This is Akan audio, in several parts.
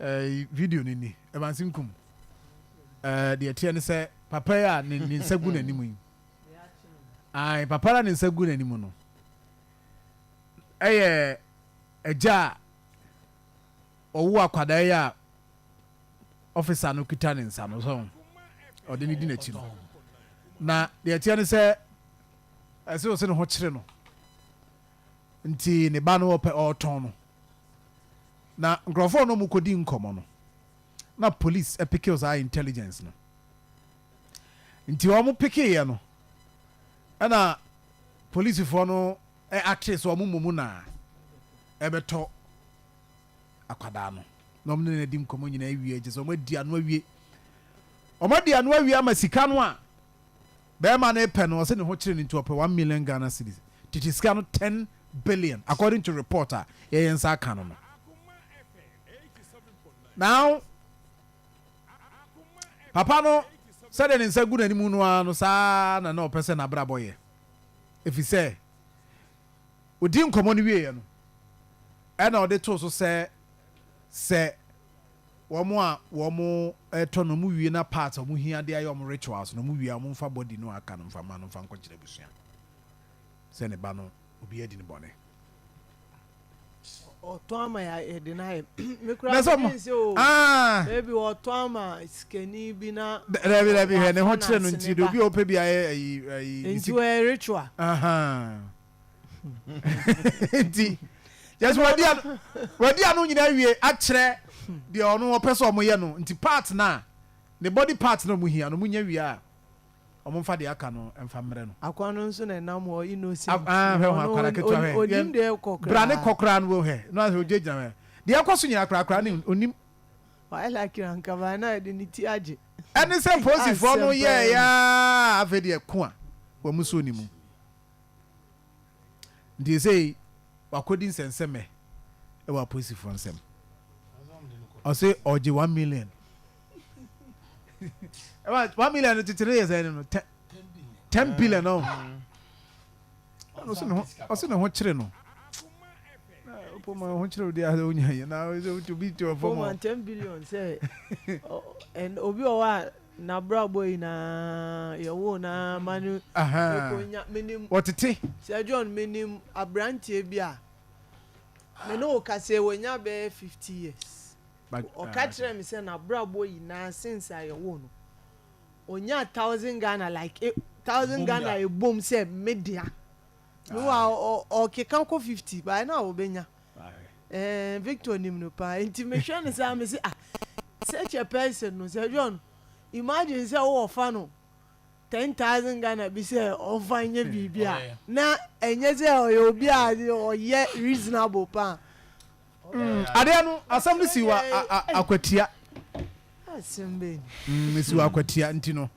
Eh, video no ni, Evansi nkum. Eh, deɛ ɛteɛ ne sɛ papa yi a ne nsa gu n'anim yi, ae, papa no a ne nsa gu n'anim no, ɛyɛ agya a ɔwo akwadaa yi a ɔfisa no kita ne nsa no so ɔde ne di n'akyi no na deɛ ɛteɛ ne sɛ ɛsɛ ɔsɛ ne ho kyerɛ no nti ne ba no ɔpɛ ɔtɔn no Na nkorɔfoɔ no ɔmo kɔdi nkɔmɔ no na police ɛpikil saa intelligence no nti ɔmo pikiiɛ no ɛna polisifoɔ no ɛactee sɛ ɔmo mmɔ mu na ɛbɛtɔ akwadaa no na ɔmo ne no adi nkɔmɔ nyinaa awie gye sɛ ɔmo adi ano awie ɔmo adi ano awie ama sika no a Bɛɛma no repɛ no ɔse ne ho kyere no nti ɔpɛ one million Ghana cedis tete sika no ten billion according to report a yɛyɛ nsa aka no no now papa no sɛdeɛ ne nsa gu n'anim no ara no saa na na ɔpɛ sɛ n'abrabɔ yɛ ɛfiri sɛ ɔdi nkɔmmɔ no wieɛ no ɛna ɔde too so sɛ sɛ Wɔn a wɔretɔ no wɔwie na parts a wɔhia de ayɛ wɔn rituals no wɔwie a wɔmfa body no a aka no mfa mma no mfa nkɔkyerɛ abusua sɛ ne ba no obi adi no bɔne. Ɔtɔn ama yɛde no ayɛ me kura me nse o ebi ɔtɔn ama sikani bi na dabi dabi hɛ ne ho kyerɛ no nti de obi a ɔpɛ bi ayɛ ayi ayi nti ritual nti yɛsɛ wɔadi ano wɔadi ano nyinaa wie akyerɛ deɛ ɔno wɔpɛ sɛ wɔyɛ no nti part no a ne body part no wɔhia no wɔnya wie a wɔmfa deɛ aka no mfa mmerɛ no akwa no nso na ɛnam hɔ innocent ah, hwɛ ho akwara ketewa hwɛ onim deɛ ɛkɔ koraa bra ne kɔ koraa no wɔ hɛ no asɛ ɔgyegyina hɛ deɛ ɛkɔ so nyina korakora ne onim waila kira nkaba na ɛde ne ti agye ɛne sɛ polisifoɔ no yɛɛyɛ afei deɛ ko a wɔn so ne mu Nti esei wakɔdi nsɛnsɛmɛ wɔ apolisifoɔ nsam. Ɔse ɔgye one million. Ɛma one million no kyekyere yɛ sɛ no tɛ ten billion no. Ɔse ne ho kyere no. Poma ho kyere odi ahɛ onya yɛ na obi te ɔfɔm. Poma ten billion sɛ obi ɔwɔ a N'abrabɔ nyinaa, yɛwoo no ara ma no konya. Menim. Wɔtete. Sir John, menim aberanteɛ bi a me ne wo kaseɛ, wanya bɛyɛ fifty years. Ɔka kyerɛɛ me sɛ n'abrabɔ nyinaa since a yɛwoo no, ɔnyaa thousand Ghana like thousand Ghana ɛbom sɛ me dea. Meanwhile, ɔkeka kɔ fifty, but ɛna ɔbɛnya. Ɛɛn, Victor nim no paa. Enti mehwɛ no saa, mese, ah, such a person no, sɛ John, imagine sɛ wowɔ fa no ten thousand Ghana bi sɛ ɔmfa nyɛ biribi a, na ɛnyɛ sɛ ɔyɛ obi a ɔyɛ reasonable paa. Mm, adeɛ no, asɛm no si wɔ akwatia. Asɛm bɛn? Mm, si wɔ akwatia nti no,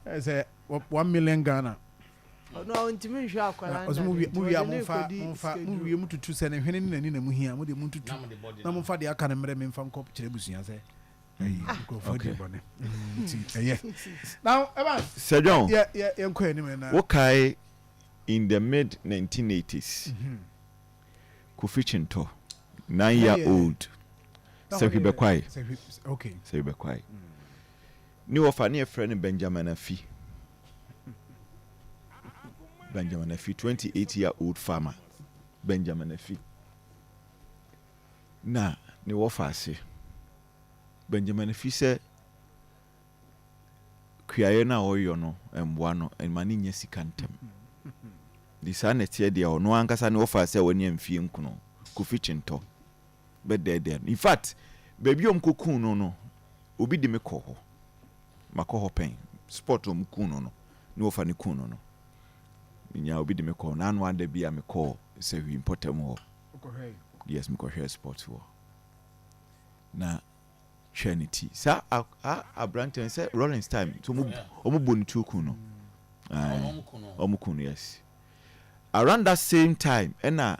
sɛ one million Ghana. Ɔno a ɔntumi nhwɛ akwadaa nna no nti, ɔde no rekɔdi sika duro. Mowie motutu sɛ ne hwene ne n'ani na mohia, mo deɛ montutu na momfa deɛ aka no mmrɛ me mfa nkɔ kyerɛ abusua sɛ nkurɔfoɔ adi bɔne nti ɛyɛ. Now, Evans, Sir John, yɛnkɔ yɛn anim na. Wokae in the mid 1980s, Kofi Kyintɔ, nine year old, Sahwi Bɛkwae, Sahwi Bɛkwae. Ne wɔfa ne yɛfrɛ no Benjamin Afi Benjamin Afi twenty eight year old farmer Benjamin Afi na ne wɔfa ase Benjamin Afi sɛ kuayɛ no a ɔyɔ no mmoa no ma ne nya sika ntɛm de saa na ɛteɛ deɛ ɔno ankasa ne wɔfa sɛ wɔne mfie nkono Kofi Kyentɔ bɛdɛɛdɛɛ no. Infact, baabi a wɔkɔkuu no no, obi de me kɔɔ hɔ. Makɔ hɔ pɛn. Spot a wɔkuu no no, ne wɔfa no kuu no no, menyaa obi de me kɔɔ hɔ. N'ano ada bi a mekɔɔ Sahwi mpɔtam hɔ. Wokɔhwɛe? Yes, mekɔhwɛɛ spot hɔ. Na hwɛ ne ti. Saa a aberanteɛ no, sɛ Rollins time, so wɔbɔ ne tuo kuu no. Wɔkuu no? Wɔkuu no, yes. Around that same time, ɛna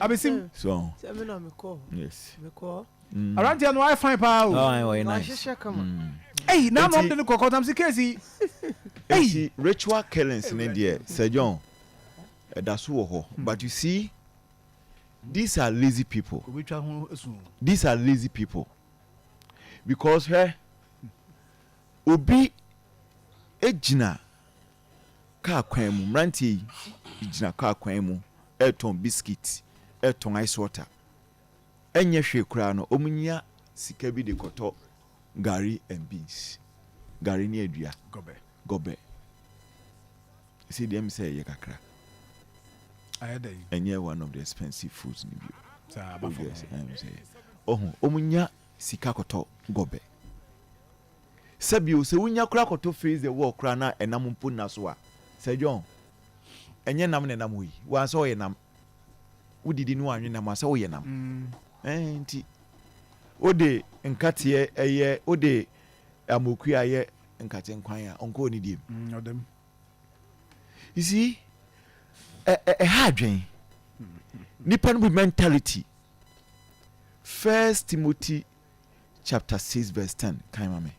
abesim. so sɛ me na mekɔ yes mekɔ. Mm. aberanteɛ no ayɛ fine paa o. Oh, I was nice. wahyehyɛ kama Mm. eyi na anam Enti- de no kɔ kɔntam si keesi yi eyi Eti ritual killings ne deɛ Sir John ɛda so wɔ hɔ but you see these are lazy people obetwa ho esu o. these are lazy people because hwɛ obi egyina Kaa kwan mu, mmeranteɛ yi gyina kaa kwan mu retɔn biscuit, retɔn ice water. Ɛnyɛ hwee koraa no, wɔnya sika bi de kɔtɔ gari and beans, gari ne adua, gɔbɛ. Ɛsei deɛ ɛm sɛ ɛyɛ kakra. Ɛnyɛ one of the expensive foods no bio. Saa, aba fam. Ɔhu, wɔnya sika kɔtɔ gɔbɛ. Sɛ bio, sɛ wunya koraa kɔtɔ face the wall koraa na ɛnam mpo nna so a, Sir John, ɛnyɛ nam na ɛnam hɔ yi, wo ansɛ ɔyɛ nam. Wodidi ne wanwe nam asɛ woyɛ nam. Ɛn nti, wode nkateɛ ɛyɛ, wode amokue ayɛ nkate nkwan a, ɔnkɔ onidie mu. Mm, ɔdam. You see, ɛha adwen. Nipa no bi mentality. First Timothy chapter six verse ten kan ma me.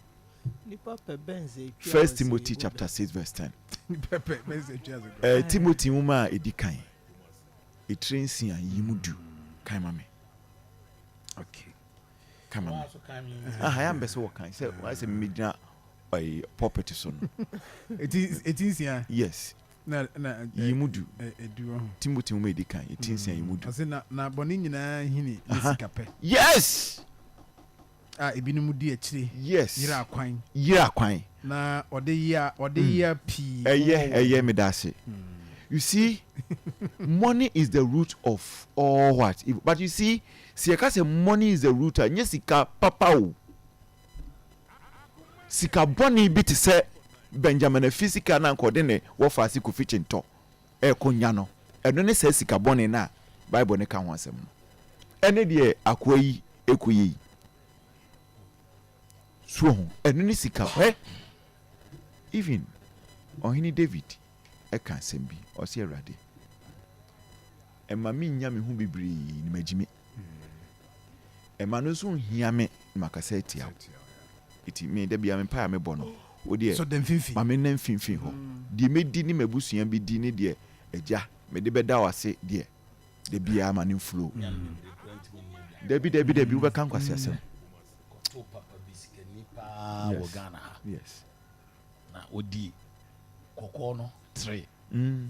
Nipa pɛ bɛn sɛ etwi First Timothy chapter six verse ten. Nipa pɛ bɛn sɛ etwi ase. Ɛɛ Timothy nwoma a edi kan etire nsia yi mu du kan ma me. Okay. Kan ma me. Aha ya mbɛsɛ wɔ kan sɛ wɔayɛ sɛ mmegyina ɛɛ pulpit so no. Eti eti nsia. Yes. Na na ɛ- Yi mu du. ɛ- ɛdu hɔ. Timothy nwoma a ɛdi kan, ɛti nsia yi mu du. Ɔse na na bɔne nyinaa hini ne Aha. sikapɛ Yes! a ebinom di akyire Yes! yera akwan Yera kwan. na ɔde yea ɔde yea pii wɔ Ɛyɛ, wɔn ɛyɛ, mu. meda ase. You see, money is the root of all what? Evil. But you see, sɛ yɛka sɛ money is the root a, nyɛ sika papa o. Sika bɔne bi te sɛ Benjamin Afi sika no a anka ɔde ne wɔfaase Kofi Kyentɔ rekɔnya no, ɛno ne saa sika bɔne no a Bible no ka ho asɛm no. Ɛne deɛ akoa yi rekɔyɛ yi, so wahu? Ɛno ne sika hwɛ! Even Ɔhene David ka asɛm bi, ɔse, Awurade, mma mennya me ho bebree na magyimi. Ɛma no nso nhia me na makasa atia wo. Enti me da biara me mpae a mebɔ no, wo deɛ ma me nna mfimfini hɔ. Deɛ mɛdi ne m'abusua bɛdi ne deɛ Agya mede bɛda wo ase deɛ, da biara ma no mflow. Dabi dabi dabi wobɛka nkwaseasɛm. Kɔto papa bi sikani paa wɔ Ghana ha. Yes. Na ɔdi kɔkɔɔ no tray. Mm.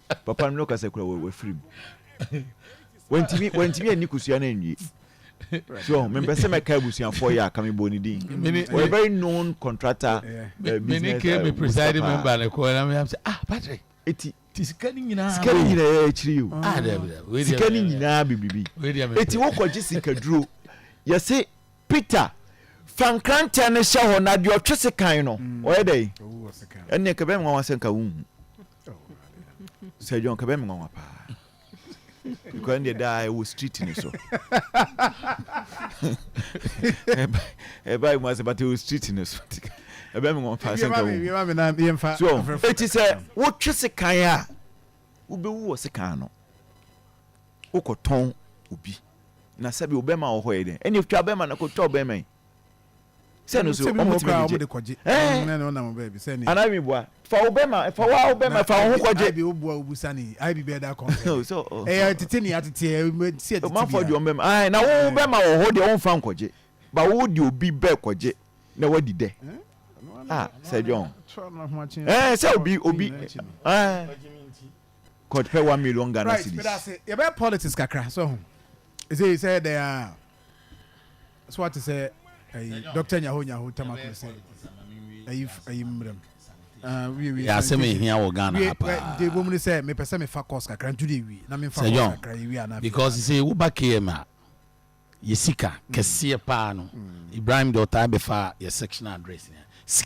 Papa no kasa kura wɔ wafiri mu. Wantumi wantumi anni kusua no anwie. So ɔho mempɛ sɛ mɛka abusuafoɔ yɛ a ka mebɔ ne din. Ɔyɛ very known contractor uh, business. Me ne kee me presiding member ne kɔɔ na meyam sɛ ah Patrick. Eti ti sika ni nyinaa. Sika ni nyinaa yɛ akyiri yi o. Ah dɛbi dɛbi. Sika ni nyinaa bibiribi. Eti wokɔ gye sika duro yɛse Peter fa nkrantɛ no hyɛ hɔ na deɛ ɔtwe sekan no ɔyɛ dɛ ɛnneɛ kɛbɛn nwa wasɛ nka wohu sɛ dwon kɛbɛ mi nwanwa paa because ɛnna daa ɛwɔ street ni so ɛba ɛmu ase bata ɛwɔ street ni so ɛbɛ mi nwanwa paa sɛ nka wo so eti sɛ wotwe sekan a wobɛwu wɔ sekan no wokɔtɔn obi na sɛbi obɛma wɔ hɔ yɛ dɛ ɛnna etwa bɛma na kotwa obɛma yi. sɛ no so ɔmo tumi de gye ɛɛ anaa mi bua fa wo bɛ ma fa wo a wo bɛ ma fa wo ho kɔ gye. ayibi o bua o bu sani ayibi bɛ da kɔn fɛ so ɛyɛ tete ni atete ɛ mɛ si ɛ tete bi a. maa fɔ di ɔmo bɛ ma ayi na wo bɛ ma wɔ hɔ deɛ ɔmo fa nkɔ gye ba wo di obi bɛ kɔ gye na wa di dɛ a sɛ jɔn ɛɛ sɛ obi obi ɛɛ kɔt pɛ one million Ghana cedis. right yɛ bɛ politics kakra so ho ɛsɛ sɛ dɛ a. So wate sɛ ayi Doctor Nyaho Nyaho Tamaklo se ayi ayi mmerɛm? Ah, wie wie. Yɛ asɛm a ehia wɔ Ghana ha paa. Wie, de bom ne sɛ mepɛ sɛ mefa course kakra ntu de wie na memfa course kakra yɛ wie ana. Because sɛ woba KM a, yɛ sika kɛseɛ paa no, Ibrahim de ɔtaa bɛfa yɛ sectional address nyinaa.